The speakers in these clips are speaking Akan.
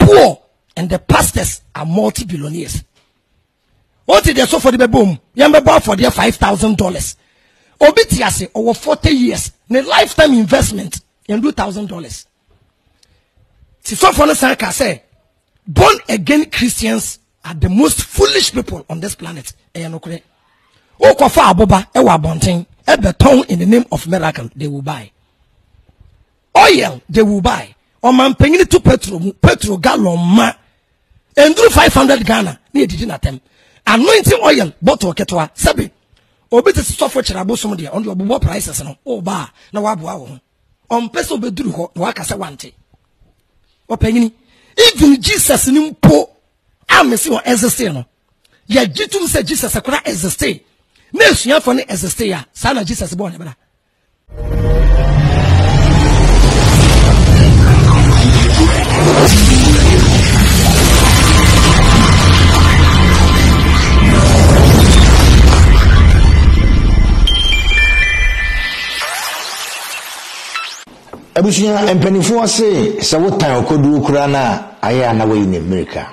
poor and the pastors are multi billionaires o ti deɛ sɔfo de bɛ bɔ mu yɛn bɛ bɔ afɔdeɛ five thousand dollars obi ti ase ɔwɔ forty years ne lifetime investment yɛn do thousand dollars ti sɔfo no san ka sɛ born again christians are the most foolish people on this planet ɛyɛ nokorɛ o kɔ fa aboba ɛwɔ abɔnten ɛbɛ tɔn in the name of miracle they will buy. Oil de wu bae. Ɔmanpanyin to petro mu, petro gallon ma enduru 500 Ghana na edidi n'atɛm. Anointing oil bottle ketewa sɛbe obi te sɛ sɔfo kyerɛ abosom deɛ ɔno deɛ ɔbobɔ prices no ɔba a na waboa wo ho ɔmpɛ sɛ ɔbɛduru hɔ na waka sɛ wante ɔpanyini even jesus no mpo a mese wɔ existe no yɛgye tom sɛ jesus kora existe na asuafoɔ no existe a saa na jesus bɔɔ ne bra abusua mpanimfoɔ se sɛ wotan ɔkɔduo koraa no a ayɛ a na wayi ne mmirika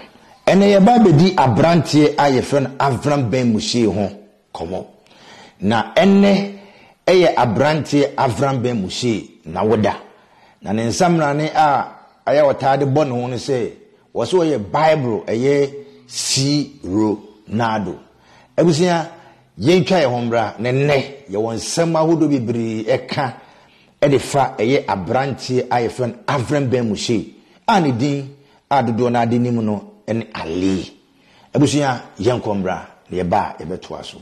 ɛnna yɛba abɛdi aberanteɛ a yɛfrɛ no avram bɛn musie ho Kɔmɔ. Na ɛnnɛ ɛyɛ abranteɛ avranbɛn mu se na woda. Na ne nsamrane a ayɛ ɔtaa de bɔ ne ho ne sɛ wɔse ɔyɛ Bible ɛyɛ Cironado. Abusua, yɛntwa yɛn ho mmra na ɛnnɛ yɛwɔ nsɛm ahodoɔ bebree ɛka ɛde fa ɛyɛ abranteɛ a yɛfrɛ no avranbɛn mu se a ne din a dodoɔ no ara de nim no ne Allie. Abusua, yɛnkɔ mbra na yɛba a yɛbɛtoa so.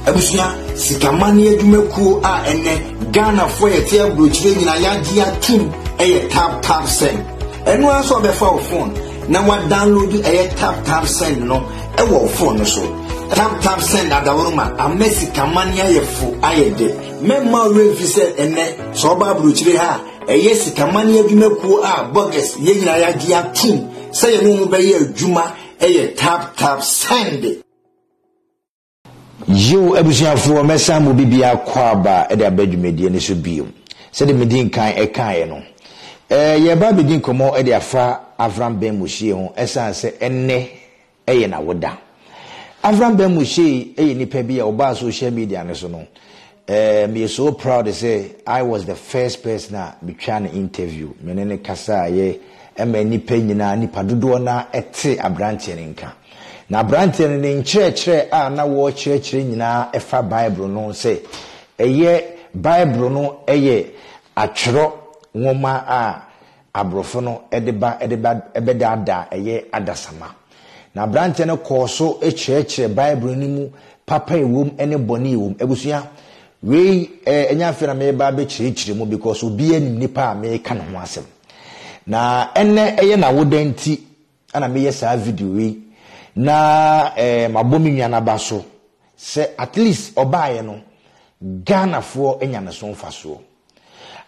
Abusua, Sikamanneɛ adwumakuo a ɛnnɛ Ghanafoɔ a yɛte aburokyire nyinaa yɛagye atom yɛ Tap Tap Send. Ɛno ara sɛ ɔbɛfa wo phone na wadownloadu ɛyɛ Tap Tap Send no wɔ wo phone no so. Tap Tap Send adaworoma ama sikamanneɛ ayɛ fo ayɛ dɛ. Mɛmma wo werɛ mfi sɛ ɛnnɛ sɛ ɔba aburokyire ha a, Ɛyɛ sikamanneɛ adwumakuo a Borges yɛn nyinaa yɛagye atom sɛ yɛne wɔn bɛyɛ adwuma yɛ Tap Tap Send. Yiw, abusuafoɔ, mɛsan mo biribi akwaaba de aba dwumadie no so bio. Sɛdeɛ medii nkan kaeɛ no, yɛreba abɛdi nkɔmmɔ de afa Avram Ben Mushie ho, ɛsiane sɛ ɛnnɛ Ɛyɛ na wo da. Avram Ben Mushei yɛ nipa bi a ɔbaa social media no so no, eh, meyɛ so proud sɛ I was the first person a metwaa no interview. Me ne no kasaeɛ, ɛma nnipa nyinaa, nnipa dodoɔ no ara tee aberanteɛ no nka. Na aberanteɛ no, ne nkyerɛkyerɛ a na wɔrekyerɛkyerɛ nyinaa ɛfa Bible no ho sɛ ɛyɛ, Bible no yɛ atwerɛ nwoma a aborɔfo no de ba de ba bɛdaadaa ɛyɛ adasamma. Na aberanteɛ no kɔɔ so kyerɛkyerɛ Bible no mu papa ɛwom ne bɔne ɛwom. Abusua, wei ɛnyɛ afei na mereba abɛkyerɛkyerɛ mu because obiara nim nipa a mereka ne ho asɛm. Na ɛnnɛ ɛyɛ na wo dɛn nti Ana meyɛ saa video wei na eh mabɔ me nua no aba so sɛ at least ɔbaeɛ no Ghana foɔ nya ne so mfasoɔ.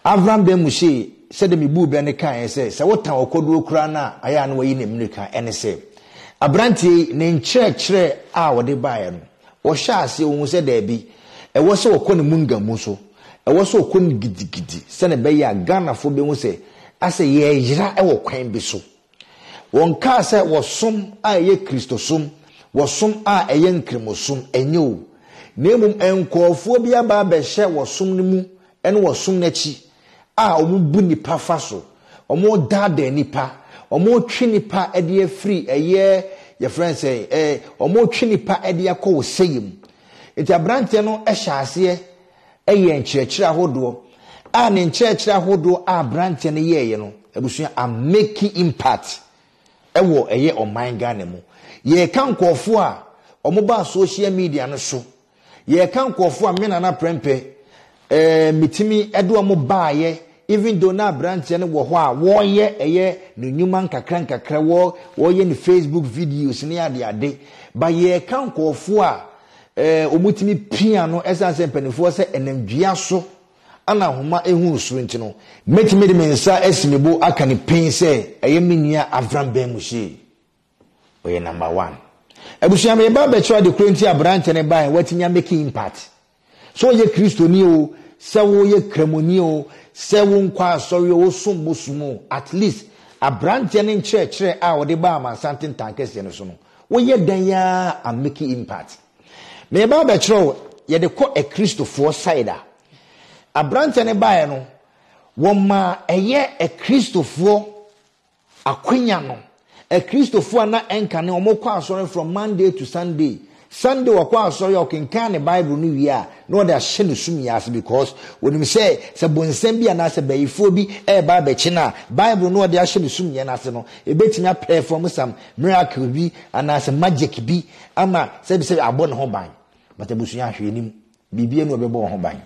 Avram dan mu sei sɛdeɛ me buu bɛ no kaeɛ sɛ sɛ wo tan ɔkɔdoɔ koraa no a ayɛ a na wayi ne mmirika ɛne sɛ abranteɛ yi ne nkyerɛkyerɛ a ɔde baeɛ no ɔhyɛ aseɛ ɔhu sɛ daabi ɛwɔ sɛ ɔkɔ ne munga mu so ɛwɔ sɛ ɔkɔ no gidigidi sɛdeɛ ɛbɛyɛ a Ghana foɔ bɛhu sɛ asɛ yɛyera ɛwɔ kwan bi so. Wɔnkaa sɛ wɔ som a ɛyɛ Kristosom, wɔ som a ɛyɛ Nkramosom, ɛnyɛ o, na mmom nkorɔfoɔ bi aba abɛhyɛ wɔ som no mu ne wɔ som no akyi a wɔbu nnipa fa so, wɔredaadaa nnipa, wɔretwe nnipa de afiri ɛyɛ, yɛfrɛ no sɛn, wɔretwe nnipa de akɔ ɔsɛeɛ mu. Nti aberanteɛ no hyɛɛ aseɛ. yɛɛ nkyerɛkyerɛ ahodoɔ a ne nkyerɛkyerɛ ahodoɔ a abranteɛ no yɛɛyɛ no abusua a making impact wɔ ɛyɛ ɔman Ghana mu yɛɛka nkurɔfoɔ a wɔn baa social media no so yɛɛka nkurɔfoɔ a me nana prɛmpɛ eh, metumi de wɔn baayɛ even though na abranteɛ no wɔ hɔ a wɔyɛ ɛyɛ ne nnwuma nkakra nkakra wɔ wɔyɛ ne Facebook videos ne ade ade ba yɛɛka nkurɔfoɔ a Ɛɛ, wɔtumi pia no ɛsiane sɛ mpanimfoɔ sɛ ɛnam dua so na nhoma ehunu soro nti no. Mɛtumi de me nsa asi me bo aka no pin sɛ ɛyɛ me nua Avram Ben Mushie. Ɔyɛ number one. Abusua, mereba abɛkyerɛ ade korɔ nti a aberanteɛ no baeɛ, watumi a make impact. Sɛ ɔyɛ Kristoni o, sɛ woyɛ Kramoni o, sɛ wonkɔ asɔre o, wosom bosom o, at least aberanteɛ no nkyerɛkyerɛ a ɔde baa Amansan Tentan Kɛseɛ no so no, Woyɛ dɛn ara a make impact. Mereba abɛkyerɛ wo yɛde kɔ akristofoɔ side a, aberanteɛ no baeɛ no wɔmaa ɛyɛ akristofoɔ akwanya no, akristofoɔ a na ɛnka ne wɔkɔ asɔre from Monday to Sunday, Sunday wɔkɔ asɔre a ɔkenkan ne Bible no wie a na ɔde ahyɛ ne sum yɛ ase because wɔnim sɛ sɛ bonsam bi anaasɛ bayifoɔ bi ɛreba abɛkye no a Bible no ɔde ahyɛ ne sum yɛ no ase no ɛbɛtumi apɛɛfam sam Miracle bi anaasɛ magic bi ama sɛbisɛbi abɔ ne ho ban but abusua hwɛ yɛnim biribi ani ɔbɛbɔ wo ho ban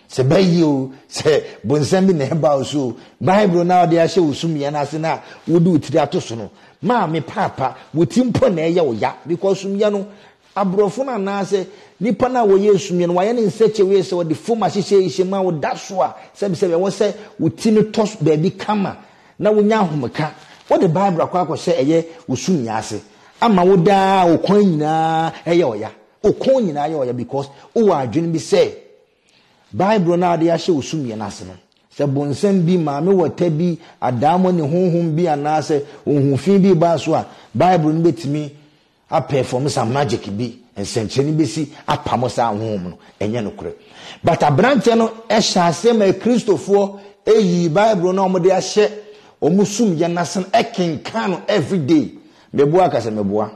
sɛ bɛyɛ o sɛ bonsam bi na ɛba wo so o bible na ɔde ahyɛ wo sumia no ase na wode wo tiri ato so no maame paapa wo ti mpo na ɛyɛ wo ya because sumia no Aborɔfo no anaasɛ nnipa no a wɔyɛ nsummiɛ no, wɔayɛ no nsɛkyɛwee sɛ wɔde fom ahyehyɛ hyɛ mu a woda so a, sɛbisɛbi ɛwɔ sɛ wo ti no tɔ baabi kama na wonya ahomeka. Wode Bible akɔ akɔhyɛ ɛyɛ wo sumiiɛ ase ama wo daa a wo kɔn nyinaa ɛyɛ ɔya. Wo kɔn nyinaa yɛ ɔya because wowɔ adwene bi sɛ Bible no a wode ahyɛ wo sumiiɛ no ase no, sɛ bonsam bi, maame wɔta bi, adaemone honhom bi anaasɛ ohun fi bi baa so a, Bible no bɛtumi Apɛ fam sa magic bi nsɛnkyerɛnne besi apamo saa ahonhom no. Ɛnyɛ nokorɛ. But abranteɛ no hyɛɛ aseɛ maa Kristofoɔ yii Bible no a wɔde ahyɛ wɔn sumyɛ no ase no kenkan no everyday. Meboa ka sɛ meboa.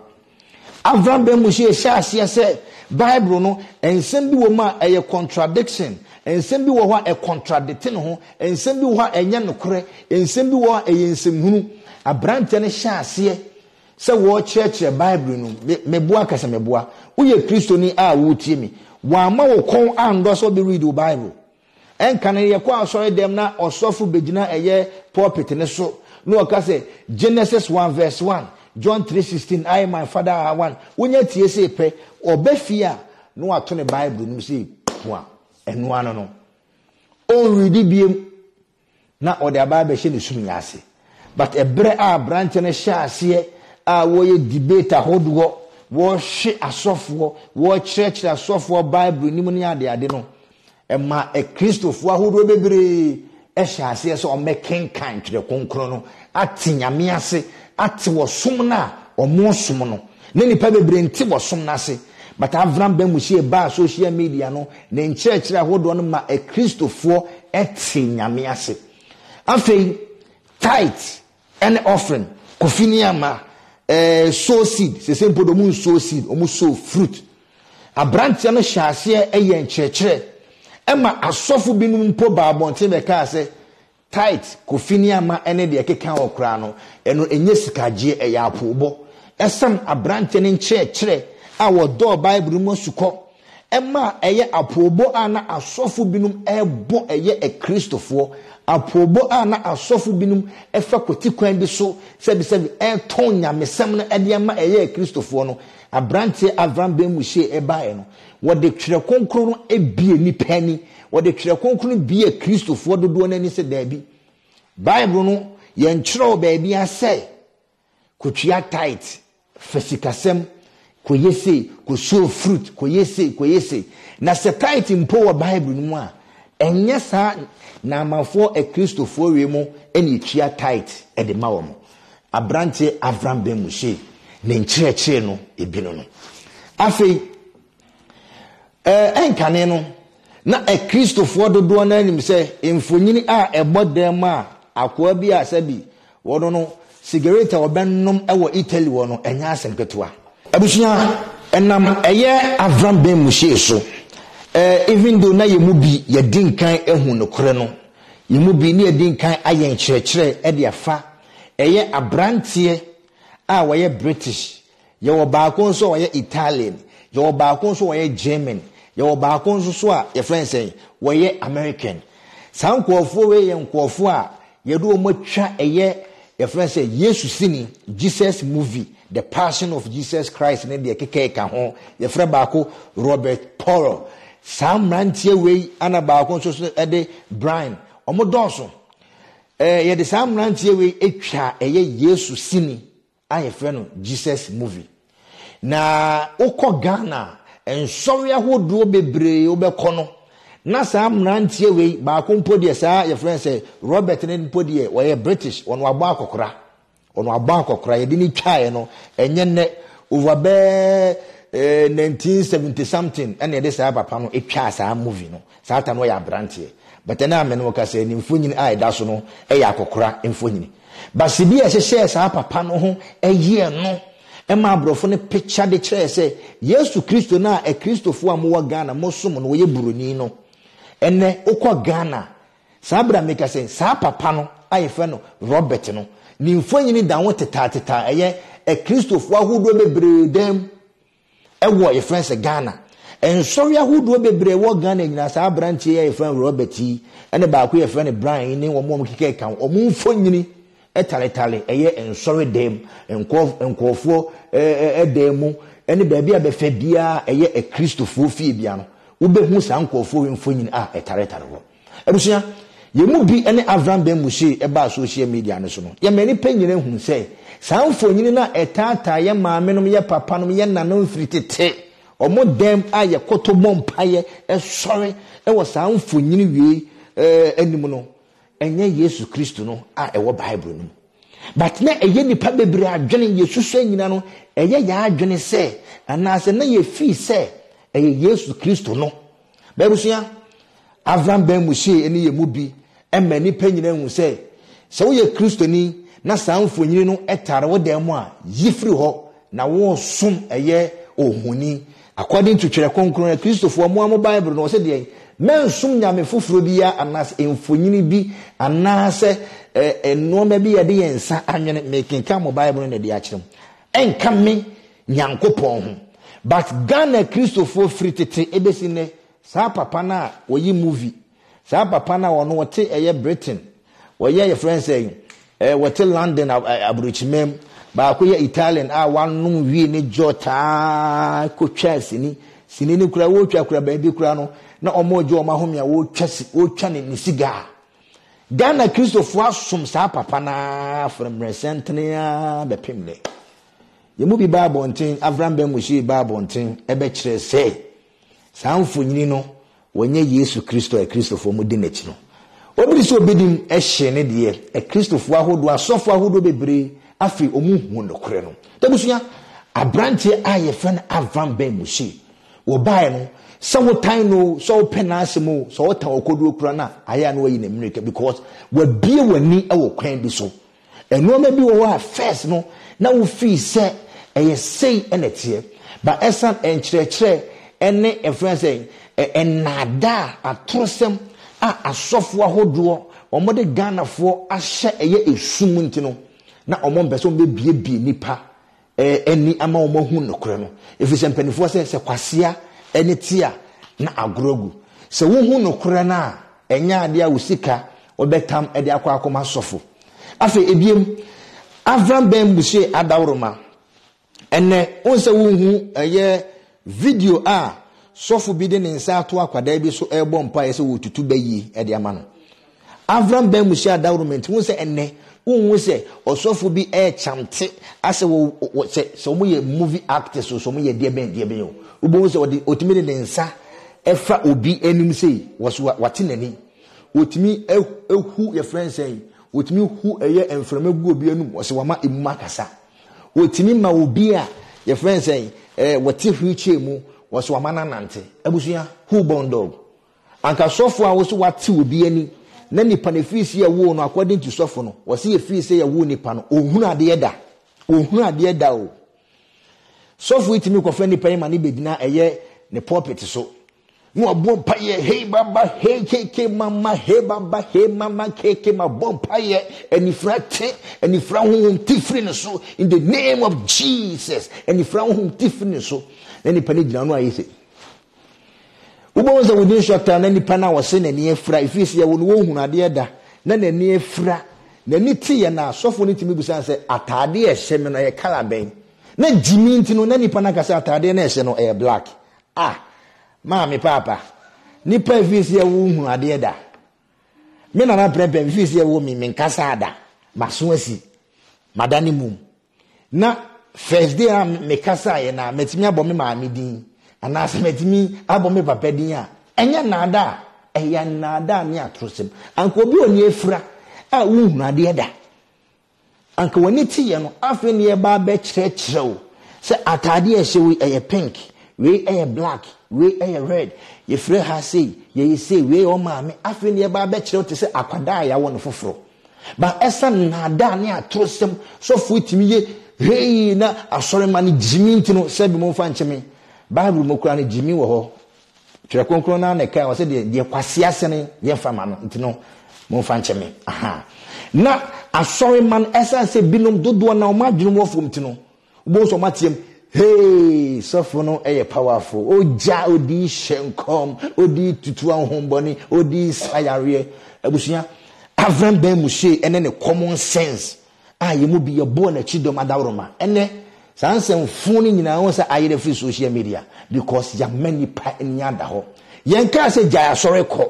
Avram bɛn mu so yɛhyɛɛ aseɛ sɛ Bible no nsɛm bi wɔ mu a ɛyɛ contradiction, nsɛm bi wɔ hɔ a ɛkontradete ne ho, nsɛm bi wɔ hɔ a ɛnyɛ nokorɛ, nsɛm bi wɔ hɔ a ɛyɛ nsɛmhunu. Abranteɛ no hyɛɛ aseɛ Sɛ wɔrekyerɛkyerɛ Bible no mu. Me, meboa ka sɛ meboa. Woyɛ Kristoni a woretie me. Wɔamma wo kɔn andɔ sɛ wobɛ read wo Bible. Ɛnka no yɛkɔ asɔre dɛm na ɔsɔfo bɛgyina ɛyɛ pulpit no so na ɔka sɛ Genesis one verse one, John three sixteen, I my father are one. Wonya tie sei pɛ, ɔba fie a na wato ne Bible no mu sei pua. Ɛno ano no. Ɔnreadi biam. na ɔde aba abɛhyɛ ne sum no ase. But ɛberɛ a aberanteɛ no hyɛɛ aseɛ a wɔyɛ debate ahodoɔ, wɔhwe asɔfoɔ, wɔkyerɛkyerɛ asɔfoɔ Bible no mu ne adeade no, ɛma akristofoɔ ahodoɔ bebree hyɛɛ aseɛ sɛ wɔbɛkenkan Twerɛ Kronkron no, ate Nyame ase, ate wɔ som no a wɔsom no. Na nnipa bebree nte wɔ som no ase. But Avram Bamusie baa social media no Ne nkyerɛkyerɛ ahodoɔ no ma Akristofoɔ te Nyame ase. Afei, tithe ne offering, Kofi nneɛma, eh, sow seed, sese mpo de wɔn nsow seed, wɔn sow fruit. Aberanteɛ no hyɛ aseɛ yɛ nkyerɛkyerɛ ma asɔfo binom mpo baa abɔnten bɛkaa sɛ, Tithe, kofi nneɛma ne deɛ ɛkeka hɔ koraa no, ɛno ɛnyɛ sikagyeɛ, ɛyɛ apoobɔ. Ɛsiane aberanteɛ no nkyerɛkyerɛ a ɔdɔɔ Bible no mu asukɔ ma ɛyɛ apoobɔ a na asɔfo binom rebɔ yɛ Akristofoɔ, apoobɔ a na asɔfo binom fa kwati kwan bi so sɛbisɛbi retɔn nyamesɛm no de ama ɛyɛ Akristofoɔ no, aberanteɛ Avram Ben Moshe baeɛ no. Wɔde Twerɛ Kronkron no bue nnipa ani. Wɔde Twerɛ Kronkron no bue Kristofoɔ dodoɔ no ani sɛ daabi. Bible no, yɛntwerɛw baabiara sɛ, Kɔtua tithe, fa sikasɛm, kɔyɛ sei, kɔsow fruit, kɔyɛ sei, kɔyɛ sei. Na sɛ tithe mpo wɔ Bible no mu a, ɛnyɛ saa Naamanfoɔ Akristofoɔ wei mu na yɛtua tithe de ma wɔn. aberanteɛ Avram Ben Moshe ne nkyerɛkyerɛ no bi no no. Afei, ɛɛ, nkane no, na Akristofoɔ dodoɔ no ara nim sɛ mfonini a ɛbɔ dam a akoa bi a sɛbi wɔno no sigaret a ɔbɛnom wɔ Italy hɔ no, ɛnyɛ asɛm ketewa. Abusua, ɛnam ɛyɛ Avram Ben Moshe so, ɛɛ, even though na yɛn mu bi yɛdi nkan ahu nokorɛ no, Yɛn mu bi ne adi nkan ayɛ nkyerɛkyerɛ de afa. Ɛyɛ abranteɛ a wɔyɛ British, yɛwɔ baako nso a wɔyɛ Italian, yɛwɔ baako nso a wɔyɛ German, yɛwɔ baako nso so a yɛfrɛ no sɛn, wɔyɛ American. Saa nkurɔfoɔ wei yɛ nkurɔfoɔ a yɛde wɔn atwa ɛyɛ Yɛfrɛ no sɛ Yesu sini, Jesus Movie, The Passion of Jesus Christ ne deɛ ɛkekɛɛka ho. Yɛfrɛ baako Robert Paul. Saa mmeranteɛ wei ɛna baako nso so de Brian. Wɔn dɔɔso. Ɛɛ yɛde saa mmeranteɛ wei atwa ɛyɛ Yesu sini a yɛfrɛ no Jesus Movie. Na wokɔ Ghana a, nsɔre ahodoɔ bebree wobɛkɔ no, na saa mmeranteɛ wei baako mpo deɛ saa yɛfrɛ no sɛ Robert no mpo deɛ ɔyɛ British, ɔno abɔ akɔkora. Ɔno abɔ akɔkora, yɛde no twaeɛ no, ɛnyɛ nnɛ, over bɛɛ eh, 1970 something ɛna yɛde saa papa no twaa saa movie no. Saa ta no ɔyɛ abranteɛ. But ɛnɛ a me ne wo kasa yi, ne mfonyin a ɛda so no yɛ akɔkora mfonyin. Base bi a ɛhyehyɛɛ saa papa no ho yɛɛ no ma aborɔfo no pekya de kyerɛɛ sɛ Yesu Kristo no a Akristofo a mowɔ Ghana mosom no ɔyɛ Buroni no. Ɛnɛ wokɔ Ghana a, saa bere a meka sɛ saa papa no a yɛfrɛ no Robert no, ne mfonyin da ho tetaatetaa ɛyɛ Akristofo ahodoɔ bebree dan mu. Ɛwɔ yɛfrɛ no sɛ Ghana nsɔre ahodoɔ bebree ɛwɔ Ghana nyinaa saa abranteɛ yi a yɛfrɛ no Robert yi ɛne baako yɛfrɛ no Brian yi ne wɔn a wɔn keka ɛka ho wɔn mfonyini ɛtaletale ɛyɛ nsɔre dɛm nkɔf nkɔfoɔ ɛɛ dɛm mu ɛne baabi a bɛfɛ biara ɛyɛ akristofoɔ fie bia no wobɛhu saa nkɔfoɔ yi mfonyini a ɛtaletale hɔ. Abusua, yɛn mu bi ne Avram Ben Mussey baa sohyia media no so no, yɛmaa nnipa nyinaa hunuu sɛ saa mfonini no a ɛtaataa yɛn maamenom, yɛn papanom, yɛn ɛnanom mfiri tete, wɔn dan mu a yɛkotow bɔ mpaeɛ sɔre wɔ saa mfonini wei anim no, ɛnyɛ Yesu Kristo no a ɛwɔ Bible no mu. But na ɛyɛ nnipa bebree adwene, yɛsusua nyina no, ɛyɛ yɛn adwene sɛ, anaasɛ na yɛfii sɛ ɛyɛ Yesu Kristo no. M'abusua, Avram Ben Mushie ne yɛn mu bi ma nnipa nyinaa hu sɛ, sɛ woyɛ Kristoni na saa mfonini no tare wo dan mu a, yi firi hɔ na woresom ɛyɛ ohoni. According to Twerɛ Kronkron no, Kristofoɔ, mo a mo Bible no, wɔse deɛn? Mɛnsom nyame foforɔ biara anaasɛ mfonini bi anaasɛ nnoɔma bi a yɛde yɛn nsa anwene, mekenkan mo Bible no na ɛde akyerɛ mo. Ɛnka me Nyankopɔn ho but Ghana kristofoɔ firi tete ɛbɛsi nnɛ saa papa no a ɔyi movie saa papa no a ɔno ɔte ɛyɛ Britain ɔyɛ yɛfrɛ no sɛn ɛɛ ɔte London aburokyimam baako yɛ Italian a wanom wii ne gyɔtaa kɔtwaa sini sini no kura wɔtwa kura baabi kura no na wɔn ɔgye wɔn ahome a wɔtwa si wɔtwa ne ne sigaa Ghana kristofoɔ asom saa papa no ara firi mmerɛsɛntene ara bɛpem nnɛ Yɛn mu bi baa abɔnten, Avram Ben Mushiri baa abɔnten bɛkyerɛɛ sɛ saa mfonini no wɔnyɛ Yesu Kristo a Kristofoɔ wɔdi n'akyi no. Obiri sɛ obi dim hyee ne deɛ, Kristofoɔ ahodoɔ, asɔfoɔ ahodoɔ bebree afei wɔhuu nokorɛ no. Abusua, aberanteɛ a yɛfrɛ no Avram Ben Mushiri, wɔbaeɛ no, sɛ wotan no o, sɛ wopɛ n'asɛm o, sɛ wotan ɔkodoɔ kura no a, ayɛ a na wayi ne mmirika because wabie w'ani wɔ kwan bi so. Nnoɔma bi wɔ hɔ a first no na wo feel sɛ ɛyɛ sei na ɛteɛ but ɛsan nkyerɛkyerɛ ɛne ɛfrɛ no sɛn nnaadaa atorosɛm a asɔfoɔ ahodoɔ wɔn de Ghanafoɔ ahyɛ ɛyɛ ɛsum nti no na wɔn mpɛ sɛ wɔn bɛ bie bie nipa ani ama wɔahu nokorɛ no. Ɛfiri sɛ mpanimfoɔ sɛ, sɛ kwasea ne te a, na agorɔ agu. Sɛ wohu nokorɛ no a, ɛnyɛ adeɛ a wo sika wobɛtam de akɔ akɔma asɔfo. Afei ebiem, Avram bɛn mu se adaworoma. Ɛnnɛ, wohu sɛ wohu ɛyɛ Video a sɔfo bi de ne nsa ato akwadaa bi so rebɔ mpae sɛ wɔretutu bɛ yi de ama no. Avram baa mu hyɛɛ dawuroma nti, wohu sɛ ɛnnɛ wonhu sɛ ɔsɔfo bi rekyamte asɛ wɔ sɛ sɛ wɔyɛ movie actors o, sɛ wɔyɛ deɛ bɛn deɛ bɛn o. Wobɛhu sɛ ɔde ɔtumi de ne nsa ɛfa obi anim sei, wɔso wate n'ani. Wɔtumi ɛhu yɛfrɛ nsɛn, wɔtumi hu ɛyɛ mframa gu obi anum, wɔsɛ wama emu akasa. Wɔtumi ma obi a yɛfrɛ no sɛn, eh, wɔte wheelchair mu, wɔso ama no anante. Abusua, who born dog? Anka sɔfo a wɔso wate obi ani, na nipa no firi se yɛwoo no according to sɔfo no, wɔse yɛfiri se yɛwoo nipa no, ɔnhunu adeɛ da. Ɔnhunu adeɛ da o. Sɔfo yi tumi kɔfrɛ nipa yi ma no bɛgyina ɛyɛ ne pulpit so, na wabɔ mpaeɛ hei baba hei keke mama hei baba hei mama keke ma bɔ mpaeɛ anifira te anifira honhom te firi ne so in the name of jesus anifira honhom te firi ne so na nipa no gyina no ayɛ sɛ wobɛhu sɛ wodin so ata na nipa no a wɔse n'ani afira ɛfiri sɛ yɛwo no wɔhunu adeɛ da na n'ani afira n'ani teɛ na asɔfo no tumi busan sɛ ataadeɛ ɛhyɛ me no ɛyɛ kala bɛn na gyimi nti no na nipa no aka sɛ ataadeɛ no ɛhyɛ no ɛyɛ black Ah maa me paapa nipa efiseɛ wo nhunu adeɛ da me nana prɛmpɛ efiseɛ wo mi me nkasa ada maso asi mada ne mum na first day a me kasa yɛ na matumi abɔ me maame din anaasɛ matumi abɔ me papa din a ɛnyɛ nnaada a ɛyɛ nnaada ne atorosɛm anka obi oni efira a wo nhunu adeɛ da Anka w'ani te yɛ no, afei na yɛreba abɛkyerɛkyerɛ wo sɛ atade a ɛhyɛ wo yi, ɛyɛ pink, wei yɛ black, wei yɛ red, yɛfrɛ ha sei, yɛyɛ sei, wei yɛ wo maame. Afei na yɛreba abɛkyerɛ wo te sɛ akwadaa a yɛawo no foforɔ. Ba ɛsa nnaadaa ne atorosɛm sɔfoɔ tumi yɛ hei na asɔremma no gyimi nti no, sɛbi momfa nkyeme, Bible mu koraa no gyimi wɔ hɔ, Twerɛ Kronkron no ara na ɛkae, ɔse deɛ, deɛ kwasea sene, yɛmfa ma no, nti no, momfa nkyɛ me. Ahaa. Na asɔremma no, ɛsiane sɛ binom dodoɔ no a wɔn adwene wɔ fam nti no, wobɛhu sɛ wɔateam, Hee, sɔfo no yɛ powerful, ogya a ɔde hyɛ nkɔm, ɔde tutu ahohommɔne, ɔde sa yareɛ. Abusua, Avrɛn bɛn mu sei ne ne common sense a yɛn mu bi yɛbɔɔ n'akyi dɔm adaworoma. Ɛnnɛ, saa nsɛm fuu no nyinaa ahu sɛ ayera firi social media because yɛama nnipa ani ada hɔ. Yɛnkaa sɛ gyae asɔre kɔ.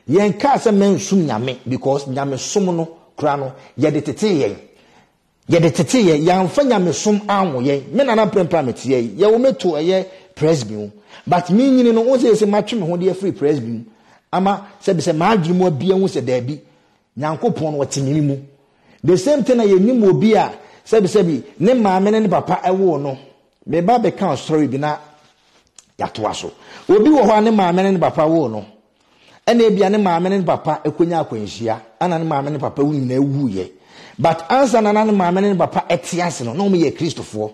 Yɛnkaa sɛ mɛnsom Nyame because Nyamesom no koraa no, yɛde tetee yɛn. Yɛde tetee yɛn, yɛamfa Nyamesom anwo yɛn. Me nana mprempren a meteɛ yi, yɛwo me too ɛyɛ Presby mu. But menyini no, wohu sɛ seesei matwe me ho de afiri Presby mu ama sɛbisɛ m'adwene mu abia hu sɛ daabi, Nyankopɔn no ɔte mene mu. The same thing na yɛnim obi a sɛbi sɛbi ne maame ne ne papa woo no. Meba bɛka story bi na yɛatoa so. Obi wɔ hɔ a ne maame ne ne papa woo no. Ɛna ebia ne maame ne ne papa ɛkɔnya akwanhyia. Ɛna ne maame ne papa wo nyinaa wuiɛ. But ansa na ne maame ne ne papa ɛte ase no, na wɔn yɛ kristofoɔ.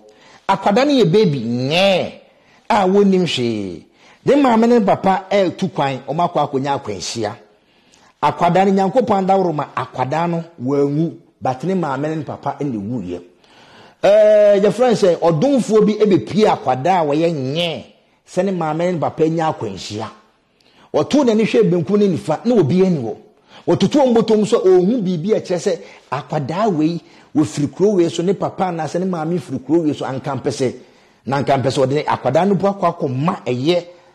Akwada no yɛ baby nyɛɛ a wɔnnim hwee. Ne maame ne ne papa ɛtu kwan wɔn akɔ akɔnya akwanhyia. Akwadaa no Nyankopɔn adaworo ma akwadaa no wanwu but ne maame ne ne papa na ɛwuiɛ. Uh, your friend say, ɔdomfoɔ bi ɛbɛpie akwadaa a wɔyɛ nyɛɛ sɛ ne maame ne ne papa anya akwanhyia. Wɔtoo n'ani hwɛ benkum ne nifa na obi ani wɔ. Wɔtoto wɔn bɔtɔm sɛ ɔhu biribi a ɛkyerɛ sɛ akwadaa wei wɔfiri kuro wei so ne papa anaasɛ ne maame firi kuro wei so ankampɛ sɛ na ankampɛ sɛ ɔde akwadaa no bu akɔ akɔma ɛyɛ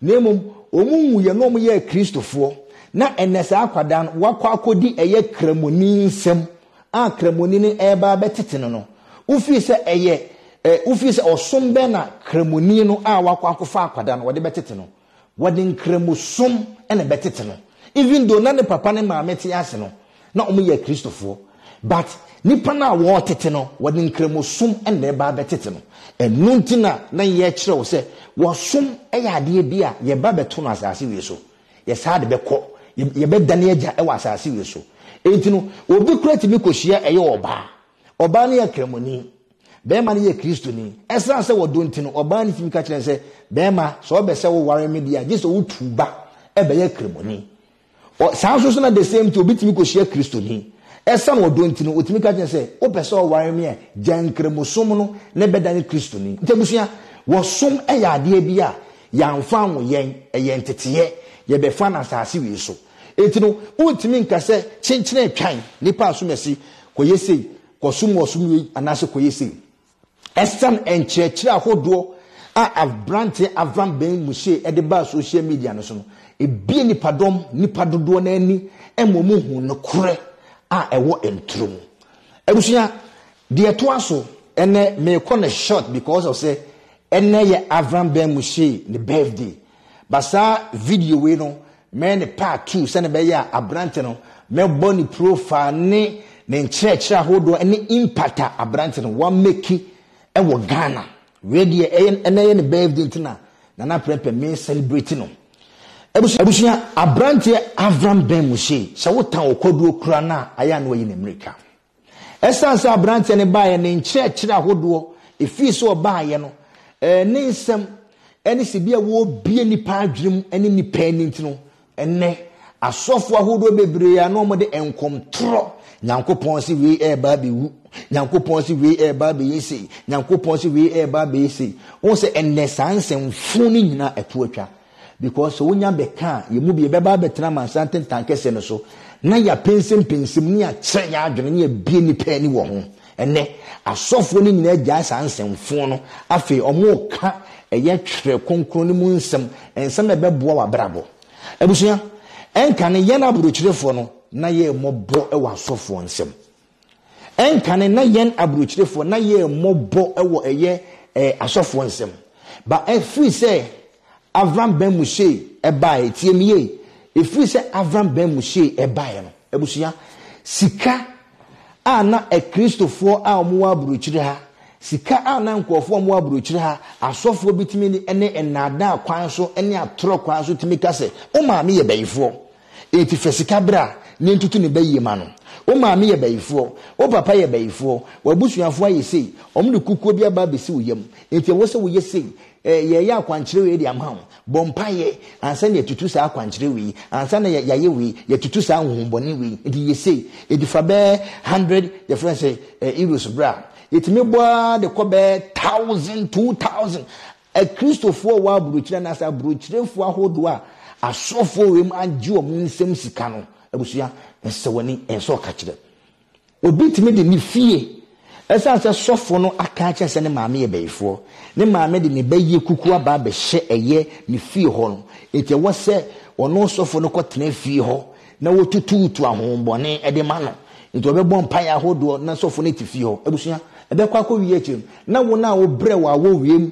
Na mmom wɔn nwuiɛ na wɔyɛɛ Kristofoɔ, na ɛnnɛ saa akwadaa no, wakɔ akɔdi ɛyɛ Kramoni nsam, a Kramoni no reba abɛtete no no. Wofii sɛ ɛyɛ, ɛ, wofii sɛ ɔsom bɛn na Kramoni no a wakɔ akɔfa akwadaa no, wɔde bɛtete no? Wɔde Nkramosom na ɛbɛtete no. Even though na ne papa ne maame te ase no, na ɔmo yɛ akristofoɔ but nipa no a wɔɔtete no wɔde nkramosom na ɛba abɛtete no ɛno nti na na yɛɛkyerɛ wo sɛ wɔsom yɛ adeɛ bi a yɛba bɛto no asase wei so yɛsaa de bɛkɔ yɛbɛdane agya wɔ asase wei so enti no obi kora tumi kɔhyia ɛyɛ ɔbaa ɔbaa no yɛ kramoni bɛrima no yɛ kristoni ɛsan sɛ wɔdɔ nti no ɔbaa no tumi ka kyerɛ sɛ bɛrima sɛ ɔbɛsɛ wo ware me deɛ gye sɛ wotu ba ɛbɛyɛ kramoni Ɔ, saa nso so na the same thing, obi tumi kɔhyia Kristoni, ɛsiane ɔdɔ nti no, ɔtumi ka kyerɛ no sɛ, wopɛ sɛ ɔware me a, gyae Nkramosom no na bɛdane Kristoni. Nti abusua, wɔsom yɛ adeɛ bi a yɛamfa anwo yɛn, ɛyɛ nteteeɛ, yɛbɛfa no asase wei so. Nti no, wontumi nka sɛ kyenkyenɛ twan, nnipa asom asi, kɔyɛ sei, kɔsom wɔ ɔsom wei, anaasɛ kɔyɛ sei. Ɛsiane nkyerɛkyerɛ ahodoɔ a abranteɛ Avram Ben Mussey de baa social media no so no, ɛbue nnipadɔm nnipa dodoɔ no ara ani ma wɔhuu nokorɛ a ɛwɔ nturo mu. Abusua, deɛ ɛtoa so, ɛnnɛ merekɔ no short because of sɛ ɛnnɛ yɛ Avram Ben Mussey ne birthday. But saa video wei no mɛyɛ ne part two sɛne bɛyɛ a aberante no mɛbɔ ne profile ne ne nkyerɛkyerɛ ahodoɔ ne impact a aberante no wameki ɛwɔ Ghana. Wei deɛ ɛyɛ ɛna ɛyɛ ne birthday nti na nana pɛrɛmpɛ me celebrate no. Abusua abusua aberanteɛ Avram bɛn mu sei sɛ wotan ɔkɔduo kura no a ayɛ a na wayi ne mmirika. Ɛsiane sɛ aberanteɛ no baeɛ ne nkyerɛkyerɛ ahodoɔ ɛfiri sɛ ɔbaeɛ no, ne nsɛm ne sɛ bi a wɔrebie nnipa adwenem ne nnipa ani nti no, ɛnnɛ asɔfo ahodoɔ bebree a na wɔde nkɔmtorɔ nyankopɔn se wei ɛreba abɛwu nyankopɔn se wei ɛreba abɛyɛ sei nyankopɔn se wei ɛreba abɛyɛ sei wɔn sɛ ɛnnɛ saa nsɛmfo no nyinaa ɛto atwa Because sɛ wonya bɛka a, yɛn mu bi yɛbɛba abɛtena amansan ntentan kɛseɛ no so na yɛapɛnsɛmpɛnsɛm ne yɛakyerɛ yɛn adwene ne yɛabue nnipa ani wɔ ho. Ɛnnɛ, asɔfoɔ no nyinaa agyae saa nsɛmfoo no. Afei, wɔreka ɛyɛ Twerɛ Kronkron no mu nsɛm, nsɛm a ɛbɛboa w'abrabɔ. Abusua, ɛnkane yɛn aburokyerefoɔ no na yɛn mmɔbɔ wɔ asɔfoɔ nsam. Ɛnkane na yɛn aburokyerefoɔ na yɛ mmɔ bɔ wɔ ɛyɛ eh, asɔfoɔ nsɛm. Ba ɛfiri sɛ Avram bɛn mu sei ɛbaeɛ, tie me yei, ɛfiri sɛ Avram bɛn mu sei ɛbaeɛ no, abusua, sika a na akristofoɔ a wɔn wɔ aburokyire ha, sika a na nkurɔfoɔ wɔn wɔ aburokyire ha, asɔfoɔ bi tumi ne nnaadaa kwan so ne atorɔ kwan so tumi ka sɛ, o maame yɛ bɛyifoɔ. Enti fa sika bra na entutu ne bayie ma no. Wo maame yɛ bayifoɔ, wo papa yɛ bayifoɔ, w'abusuafoɔ ayɛ sei, wɔde kukuo bi aba abɛsi wo yam, enti ɛwɔ sɛ woyɛ sei. Eh, yɛreyɛ akwankyerɛ wei de ama wo. Bɔ mpaeɛ ansa na yɛatutu saa akwankyerɛ wei, ansa na yɛ, yɛayɛ wei, yɛatutu saa honhommɔne wei. Enti yɛ sei. Enti fa bɛyɛ hundred, yɛfrɛ no sɛ, eh, euros bra. Yɛtumi bɔ ara de kɔ bɛyɛ thousand, two thousand, Akristofoɔ a wɔwɔ aburokyire anaasɛ aburokyirefoɔ ahodoɔ a asɔfoɔ wom agye wɔn nsam sika no, abusua, nsɛ wɔn ani nsɔ ɔkakyerɛ. Obi tumi de ne fie, ɛsiane sɛ sɔfoɔ no aka akyerɛ sɛ ne maame yɛ bayifoɔ, ne maame de ne ba yɛ kuku aba abɛhyɛ ɛyɛ ne fie hɔ no, enti ɛwɔ sɛ ɔne ɔsɔfoɔ no kɔtena fie hɔ na wotutuutu ahohombɔne de ma no. Enti wɔbɛbɔ mpae ahodoɔ na sɔfo no te fie hɔ. Abusua, ɛbɛkɔ akɔwie akyire no, na wɔn a wɔbrɛ wɔn a wɔwiem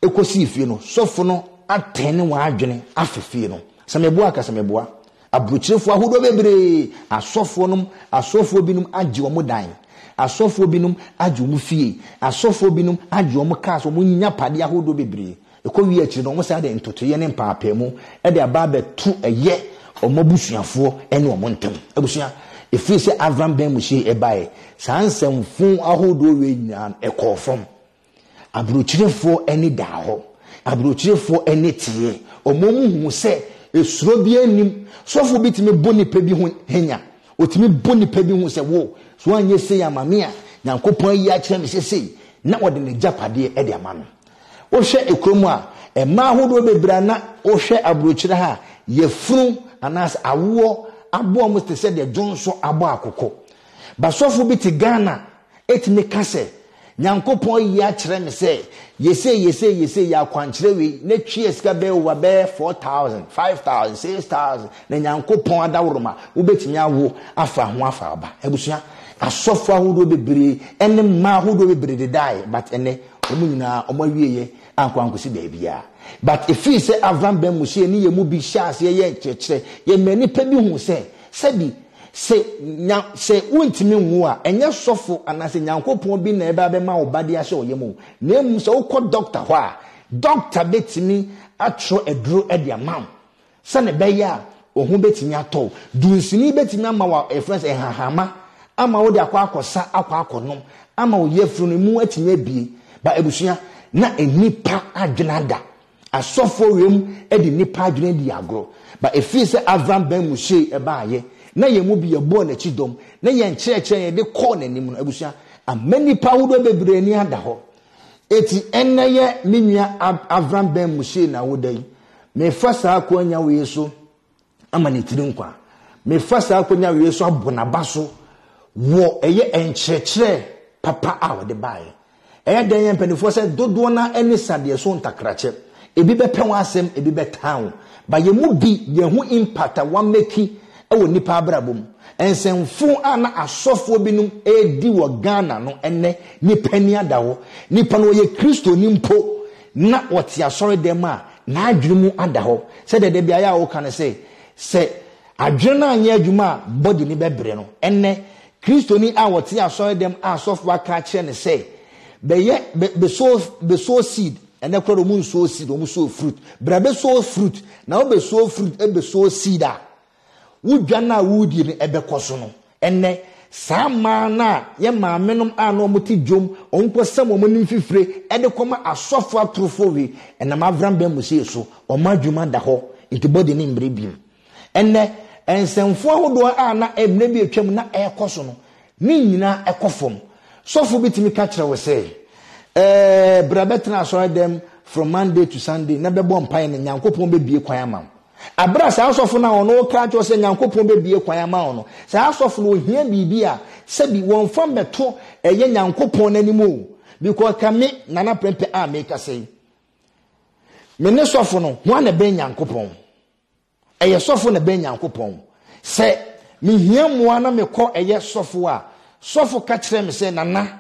kɔsii fie no, sɔfo no atɛne wɔn adwene afe fie no. Sɛ meboa ka sɛ meboa. Aburokyerefoɔ ahodoɔ bebree, asɔfoɔ nom, asɔfoɔ binom agye wɔn dan. Asɔfoɔ binom agye wɔn fie. Asɔfoɔ binom agye wɔn cars, wɔn nyapadeɛ ahodoɔ bebree. Ɛkɔ wie akyire no, wɔsan de ntotoeɛ ne mpaapaemu de aba abɛto yɛ wɔn abusuafoɔ ne wɔn ntam. Abusua, ɛfiri sɛ Avram Ben Mushie ɛbaeɛ, saa nsɛmfo ahodoɔ wei nyinaa no, ɛkɔɔ fam. Aburokyirefoɔ ani daa hɔ. Aburokyirefoɔ ani teeɛ. Wɔn mu huu sɛ esuro biara nnim. Sɔfo bi tumi bɔ nipa bi ho henya. Ɔtumi bɔ nipa bi ho sɛ, wo, so anyɛ sei ama me a, Nyankopɔn ayi akyerɛ me sɛ sei, na ɔde n'agyapadeɛ de ama no. Wohwɛ kurom a, mmaa ahodoɔ bebree a na wohwɛ aburokyire ha a, yafunu anaasɛ awoɔ abɔ wɔn te sɛ deɛ dwonso abɔ akoko. Basɔfo bi te Ghana tumi ka sɛ, Nyankopɔn ayi akyerɛ me sɛ, yɛ sei, yɛ sei, yɛ sei, yɛ akwankyerɛ wei, na tua sika bɛyɛ over bɛyɛ 4,000, 5,000, 6,000, na Nyankopɔn adaworoma, wobɛtumi awo afa ho afa aba. Abusua, asɔfo ahodoɔ bebree ne mmaa ahodoɔ bebree dedaeɛ, but ɛnɛ, Wɔn nyinaa, wɔawieɛ ankɔ ankosi baabiara. But ɛfiri sɛ Avram Ben Musie ne yɛn mu bi hyɛɛ aseɛ yɛɛ nkyerɛkyerɛ, yɛn mmaa nnipa bi huu sɛ, sɛbi, sɛ Nya, sɛ wontumi nwo a, ɛnyɛ sɔfo anaasɛ Nyankopɔn bi na ɛbɛ abɛma wo ba de ahyɛ wo yam o, na mmom sɛ wokɔ dɔkta hɔ a, dɔkta bɛtumi atwerɛ aduro de ama wo. Sɛnea ɛbɛyɛ a wo ho betumi atɔ wo. Dunsini betumi ama wo yɛfrɛ sɛ nhahama ama wode akɔ akɔsa akɔ akɔnom ama wo yafunu no mu atumi abie. Ba abusua, na nnipa adwene ada. Asɔfoɔ wiem de nnipa adwene di agorɔ. Ba efii sɛ Avram Ben Mushey baayɛ, na yɛn mu bi yɛbɔɔ n'akyi dɔm, na yɛn nkyerɛkyerɛ na yɛde kɔɔ n'anim no, abusua, ama nnipa ahodoɔ bebree ani ada hɔ. Eti ɛnnɛ yɛ me nua Avram Ben Mushey na woda yi. Mefa saa akoanya wei so ama ne tiri nkwa. Mefa saa akoanya wei so abɔ n'aba so wɔ ɛyɛ nkyerɛkyerɛ papa a wɔde baeɛ. Ɛyɛ dɛn yɛ mpanimfoɔ sɛ dodoɔ no ara ne sadeɛ so ntakrakyɛ. Ebi bɛpɛ wɔn asɛm, ebi bɛtaa wo. Ba yɛn mu bi, yɛn ho impact a wɔamɛki wɔ nnipa abrabɔ mu. Nsɛmfo a na asɔfoɔ binom redi wɔ Ghana no ɛnnɛ, nnipa ani ada hɔ. Nnipa no, ɔyɛ Kristoni mpo, Ná ɔte asɔredan mu a n'adwene mu ada hɔ, sɛdeɛ da biara a woka no sɛ, sɛ adwene no anyɛ adwuma a body no bɛbrɛ no. Ɛnnɛ, Kristoni a ɔte asɔredan mu a asɔfo aka akyerɛ no sɛ, bɛyɛ, bɛ, bɛsow, bɛsow seed, ɛnnɛ koraa deɛ wɔnsow seed, wɔsow fruit, bra bɛsow fruit, na wobɛsow fruit, bɛsow seed a, Wo dwa no a woredi no, ɛbɛkɔ so no. Ɛnnɛ, saa mmaa no a yɛn maamenom a na wɔte dwom, wɔnkɔsam wɔn ani mfifire de kɔma asɔfo atorofo we ɛnam avrammbamu sei so. Wɔn adwuma da hɔ, enti bɔde no mmere bio. Ɛnnɛ, nsɛmfo ahodoɔ a na mmerɛ bi atwam na ɛrekɔ so no, ne nyinaa kɔ fam. Sɔfo bi tumi ka kyerɛ wo sɛ, Ɛɛ, bra bɛtena asɔredan mu from Monday to Sunday na bɛbɔ mpaeɛ na Nyankopɔn bɛbue kwan ama wo. Bere a saa ɔsɔfo no a ɔno ɔka akyerɛ wo sɛ Nyankopɔn bɛbue kwan ama wo no, saa ɔsɔfo no ɔhia biribi a, sɛbi wɔmfa mmɛto ɛyɛ Nyankopɔn no anim o. Because ka me, Nana Prempeh a mekasa yi, me ne sɔfo no, hwan na ɛbɛn Nyankopɔn? Ɛyɛ sɔfo na ɛbɛn Nyankopɔn. Sɛ mehia mmoa na mekɔ ɛyɛ sɔfo a, sɔfo ka kyerɛ me sɛ, Nana,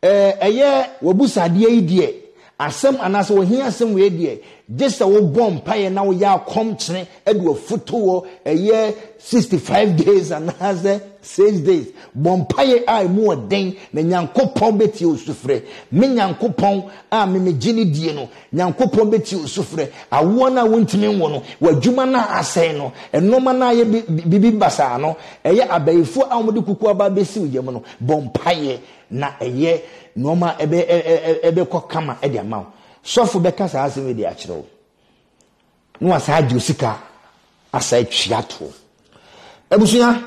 Ɛɛ, ɛyɛ, w'abisa adeɛ yi deɛ, asɛm anaasɛ w'ahia asɛm wei deɛ, gye sɛ wo bɔ mpaeɛ na wo yɛ akɔm kyene de w'afutuo, ɛyɛ sixty five days anaasɛ six days, bɔ mpaeɛ a ɛmu wɔ den na Nyankopɔn bɛtie wo sufrɛ. Me Nyankopɔn a me me gye no die no, Nyankopɔn bɛtie wo sufrɛ. Awoɔ no a wo ntumi nwo no, w'adwuma no a asɛe no, nnoɔma no a ayɛ bi bi bi basaa no, ɛyɛ abayifoɔ a wɔde kukuo aba abɛsi wo yam no, bɔ mpaeɛ na ɛyɛ nnoɔma a ɛbɛ ɛ ɛ ɛbɛkɔ kama de ama wo sɔfo bɛka saa asɛm yi de akyerɛ wo na wasan agye osika asa atwia toɔ abusua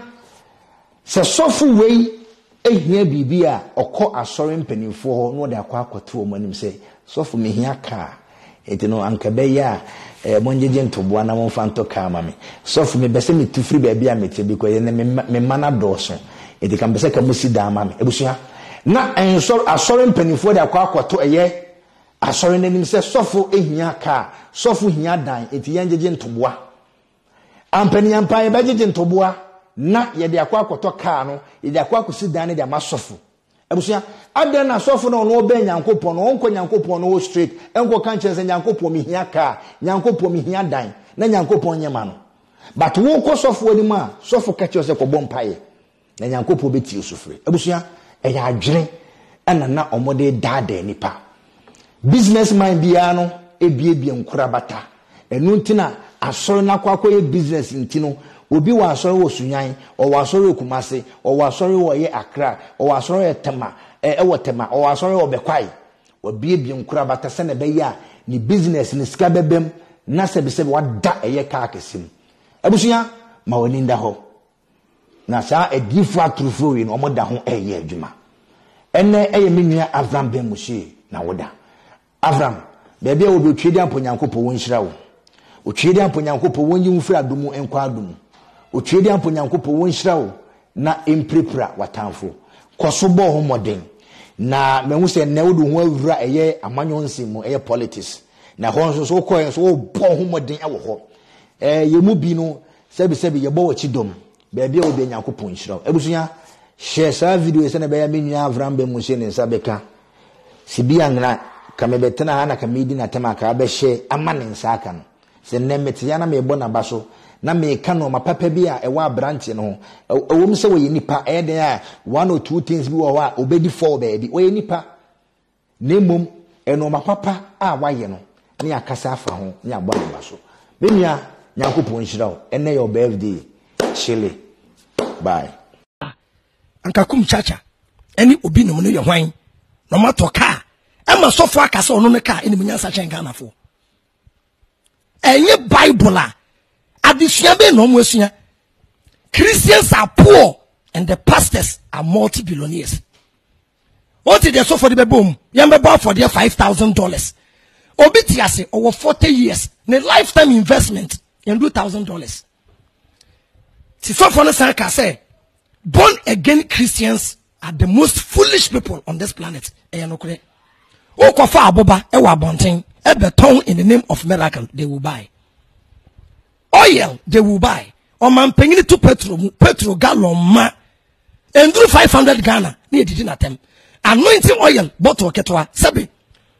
sɛ sɔfo wei ehia biribi a ɔkɔ asɔre mpanimfoɔ hɔ na ɔde akɔ akɔto wɔn anim sɛ sɔfo mehia kaa Enti no, anka ɛbɛyɛ a eh, mongyegye ntoboa na momfa nto kaa ma me. Sɔfo, mepɛ sɛ mitu firi baabi a mete bi kɔ, yɛne me mma, me mma no adɔɔso. Enti ka mepɛ sɛ ka musi dan ma me. Abusua, na ɛnsɔ asɔre mpanimfoɔ de akɔ akɔto ɛyɛ asɔre no anim sɛ sɔfo hia kaa, sɔfo hia dan, enti yɛngyegye ntoboa. Ampaniampa yɛbɛgyegye ntoboa na yɛde akɔ akɔtɔ kaa no, yɛde akɔ akɔsi dan no de ama sɔfo. Abusua, adɛn na sɔfo no a ɔno ɔbɛn Nyankopɔn no, ɔnkɔ Nyankopɔn no hɔ straight, ɛnkɔka nkyerɛ sɛ, Nyankopɔn, mehia kaa, Nyankopɔn, mehia dan, na Nyankopɔn nyɛ ma no. But wokɔ sɔfo anim a, sɔfo ka kyerɛ sɛ kɔbɔ mpaeɛ, na Nyankopɔn bɛtie sufrɛ. Abusua, ɛyɛ adwene ɛna na wɔde daadaa nnipa. Business man biara no abiabia nkorabata. Ɛno nti na asɔre no akɔ akɔyɛ business nti no, obi wɔ asɔre wɔ Sunyani, ɔwɔ asɔre wɔ Kumasi, ɔwɔ asɔre wɔ ɛyɛ Accra, ɔwɔ asɔre wɔ Tema, ɛ, ɛwɔ Tema, ɔwɔ asɔre wɔ Bekwai. Wabiabia nkorabata sɛnea ɛbɛyɛ a ne business no sika bɛba mu na sɛbesɛbe wada ɛyɛ kaa kɛse mu. Abusua, ma w'ani nda hɔ. Na saa adiyifo atorofo yi na wɔda ho reyɛ adwuma. Ɛnnɛ ɛyɛ me nua Avram Ben Mussue n'awoda. Avram, baabi a wɔde Otwedeɛ Ampɔ Nyankopɔn wɔnhyira wo. Otwedeɛ Ampɔ Nyankopɔn wɔnyi wo mfiri adom mu nkɔ adom mu. Otwedeɛ Ampɔ Nyankopɔn wɔnhyira wo na mpirapira w'atamfo. Kɔ so bɔ wo ho mmɔden. Na mahu sɛ nnɛ wode wo ho awura ɛyɛ amanyɔ nsɛm mu, ɛyɛ politics. Na ɛhɔ nso so wokɔɛ nso wobɔ wo ho mmɔden wɔ hɔ. Ɛɛ yɛn mu bi no Sɛbi sɛbi yɛbɔ wakyi dɔm baabi a wobia nyankopɔn nhyira wo abusua hyɛ saa video sɛnɛ bɛyɛ me nua avram bɛ mu se ne nsa bɛka si bi angna ka mebɛtena ha na ka medi natam aka abɛhyɛ ama ne nsa aka no sɛ nnɛ meteya na mebɔ naba so na meka nɔɔma papa bi a ɛwɔ abranteɛ no ho ɛwom sɛ wɔyɛ nipa ɛyɛ dɛn a one or two things bi wɔ hɔ a obɛdi fɔɔ baabi wɔyɛ nipa Na mmom nnoɔma papa a wayɛ no ne akasa afa ho ne abɔ anaba so me nua nyankopɔn nhyira wo ɛnɛ yɛ wo birthday chilly bye. Ah anka kum chacha ɛne obi nom no yɛ hwan na ɔmatɔ kaa ɛma sɔfo aka sɛ ɔno ne kaa ɛnim nyansa kyɛn ghanafoɔ. ɛnyɛ bible a adesua bɛn na wɔn asua christians are poor and the pastors are multi billionaires wɔn ti deɛ sɔfo de bɛ bɔ mu yɛn bɛ bɔ afɔdeɛ five thousand dollars obi ti ase ɔwɔ forty years ne lifetime investment yɛn do thousand dollars ti sɔfo no san ka sɛ born again christians are the most foolish people on this planet ɛyɛ nokorɛ wokɔfa aboba ɛwɔ abɔnten ɛbɛtɔn in the name of miracle they will buy oil they will buy ɔmampanyini to petro mu petro gallon ma ɛnduru 500 ghana ne ɛdidi natɛm anointing oil bottle ketewa sɛbe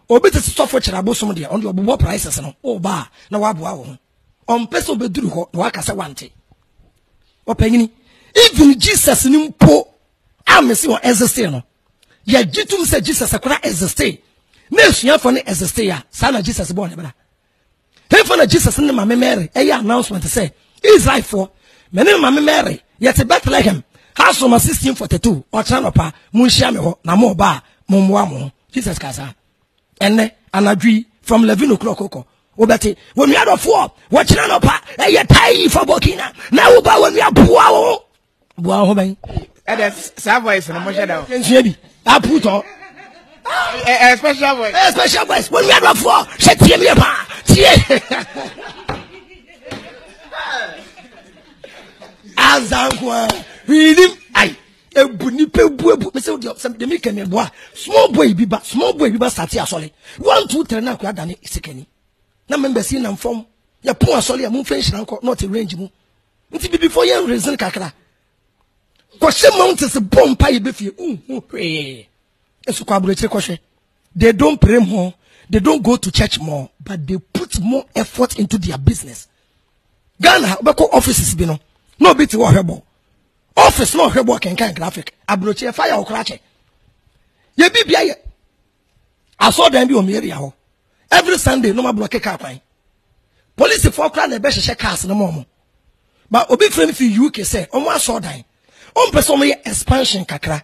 obi te sɛ sɔfo kyerɛ abosom deɛ ɔno deɛ ɔbobɔ prices no woba a na woaboa wo ho ɔmpɛ sɛ ɔbɛduru hɔ na waka sɛ wante ɔpanyini even jesus no mpo a mese wɔ existe no yɛgye tom sɛ jesus kora existe na asuafoɔ no existe a saa na jesus bɔɔ ne bra hefa na jesus ne mame mary ɛyɛ announcement sɛ israelfoɔ mene mame mary yɛte bethlehem hasoma 1642 ɔkyena nɔpa monhyia me hɔ na moɔba a mommoa mo ho jesus kaa saa ɛnɛ anadwo yi from eleven o'clock kɔ wobɛte wɔn nua dɔfoɔ wɔkyerɛ no pa ɛyɛ tae fa burkina na woba wɔn nua boa wo boa wo ho bɛn. ɛdɛ saa voice no mo hyɛ da o. nsua bi aputɔ. ɛ ɛ special voice. ɛ special voice wɔn nua dɔfoɔ hyɛ tie mi yɛ paa tie. azankoa winim ai ebu nipa ebu ebu mese o deɛ sɛm demi kɛmɛ bua small boy bi ba small boy bi ba sati asɔle one two three na akura dani sikani na members yi nam fam yɛ pon asɔle a mo nfɛn hyira nkɔ not range mu nti bibi fo yɛn reason kakra kɔhyɛ mountains bɔ mpa yɛ bɛ fie nhu hwee nso kɔ aburokyire kɔhwɛ they don't pray more they don't go to church more but they put more effort into their business ghana wobɛkɔ offices bi no na obi te hɔ ɔhwɛ bɔ office na ɔhwɛ bɔ kenkan graphic aburokyeɛ fa yɛ ɔkora kyɛ yɛ bi bia yɛ asɔɔdan bi wɔ me area hɔ every sunday no ma blɔke kaa kwan polisifoɔ kora na ɛbɛhyehyɛ cars no ma ɔmo ba obi frɛ me fi uk sɛ ɔmo asɔɔdan ɔmpɛ sɛ ɔmo yɛ expansion kakra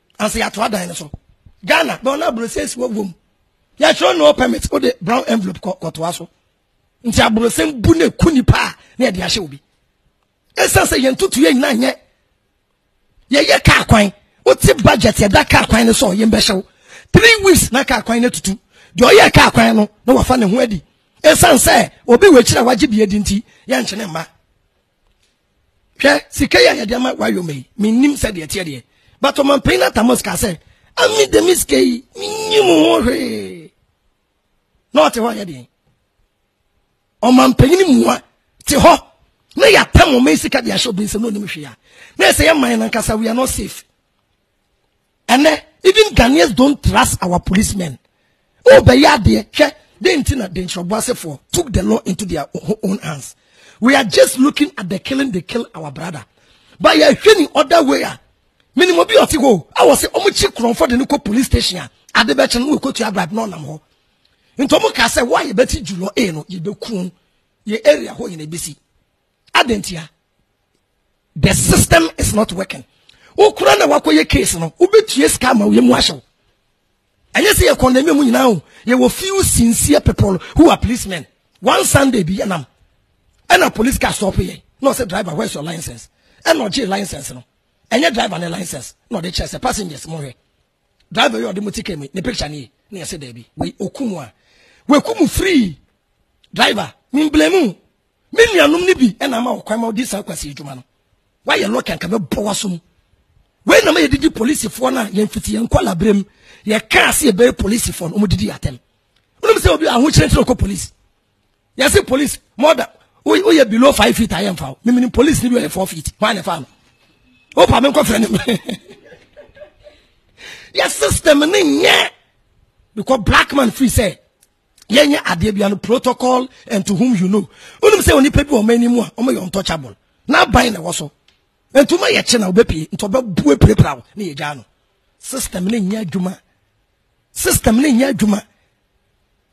ansa yɛato adan no so ghana bɛn na aburosɛ si wɔ wom yɛtwerɛ no permit wode brown envelope kɔtoa so nti aburosɛm bu na ɛku nipa a na yɛde ahyɛ obi ɛsiane sɛ yɛn tutuyɛ nyina nyɛ yɛyɛ kaa kwan wote budget yɛda kaa kwan no sɛ yɛmbɛhyɛw three weeks na kaa kwan no atutu deɛ ɔyɛ kaa kwan no na wafa ne ho adi ɛsiane sɛ obi wɔ akyiri a wagye bi adi nti yɛnkyene mma hwɛ sika yi a yɛde ama wayɔ ma yi mennim sɛ deɛ teɛ deɛ but ɔmampanin no atamos kaa sɛ ame dɛm sika yi menyim ho hwee na ɔte hɔ ayɛ deɛ ɔmampanin mua te hɔ na yɛatam ɔma sika de ahyɛ obi nsɛm na ɔnim hwee a na ɛsɛ yɛman no ankasa we are not safe ɛnɛ even ghanaians don't trust our policemen o bɛyɛ adeɛ hwɛ den ti na denkyerɛbo asefoɔ took the law into their own hands we are just looking at the killing they kill our brother but yɛhwɛ ni other way a menim obi ɔte hɔ o a wɔsɛ ɔmo kyi korɔmfo de no kɔ police station a ade bɛkye no wɔkɔtua bribe na ɔnam hɔ nti ɔmo kaa sɛ wo a yɛbɛkyi julo a no yɛbɛkuo yɛ area hɔ nyina bɛsi adɛn ntia the system is not working wokora na wakɔyɛ case no wobɛtue sika ama woyɛ mu ahyew ɛnyɛ sɛ yɛkɔ ndɛmia mu nyinaa o yɛwɔ few sincere people who are policemen one sunday bi yɛnam ɛna police car stop yɛ na ɔsɛ driver where's your license ɛna ɔgye license no ɛnyɛ driver ne license na ɔde kyerɛ sɛ passengers mo hwɛ driver yi ɔde mo ticket mi ne picture ni na yɛsɛ daabi wei oku mu a weku mu free driver mi blame mu Me nuanom no bi na ama wɔkwan ma wodi saa kwasi adwuma no. Woayɛ lɔki anka mɛbɔ w'asom. Wei na ma yɛdidi polisifoɔ no a yɛmfiti yɛn nkɔla berɛ mu yɛkaa se yɛbɛyɛ polisifoɔ no wɔdidi atɛm. Wonim sɛ obi ahokyerɛ nti na ɔkɔ polisi. Yɛse polisi mɔda woyɛ below five feet a yɛmfa wo. Memenim polisi no bi ɔyɛ four feet. Hwan na ɛfa no? Wopa me nkɔfrɛ no yɛ system ne nyɛ because black man firi sɛ yɛnyɛ adeɛ bia no protocol and to whom you know wonim sɛ onipa bi ɔma anim a ɔmayɛ untouchable na aban na ɛwɔ so nti woma yɛkye na wobɛpie nti ɔbɛbue pirapira wo ne yɛgyaa no system no nyɛ adwuma system no nyɛ adwuma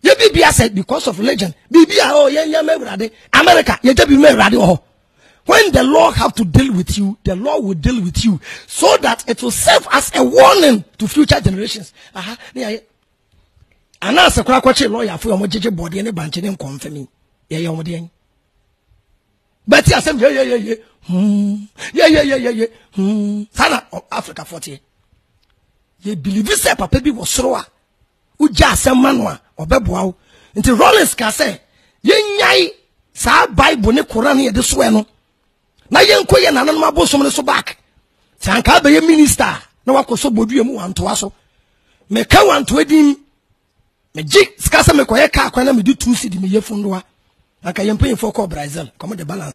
yɛbi bia sɛ because of religion biribi a oh, yɛnyɛ ma awurade america yɛgya bi ma awurade wɔ hɔ when the law have to deal with you the law will deal with you so that it will serve as a warning to future generations aha ne yɛayɛ anaasɛ koraa kɔkye lɔyafo a wɔgyegye bɔdeɛ ne bankye ne nkɔmfam yi yɛyɛ wɔn deɛn bɛte asɛm yeyeyeye hmm. yeyeyeye hmm. saa na afrikafoɔ teɛ yɛbilivi sɛ papa bi wɔ soro a wogya asɛm ma no a ɔbɛboa wo nti rollins ka sɛ yɛnyae saa bible ne koran yɛde soɛ no na yɛnkɔ yɛ nananom abosom no so back sɛ anka abɛyɛ minister a na wakɔ sɔ bodua mu wantoa so meka wantoa din megye sika sɛ mekɔyɛ kaa kwan na mede tu si de meyɛ fundoa anka yɛ mpanyimfoɔ kɔɔ brazil kɔm de balance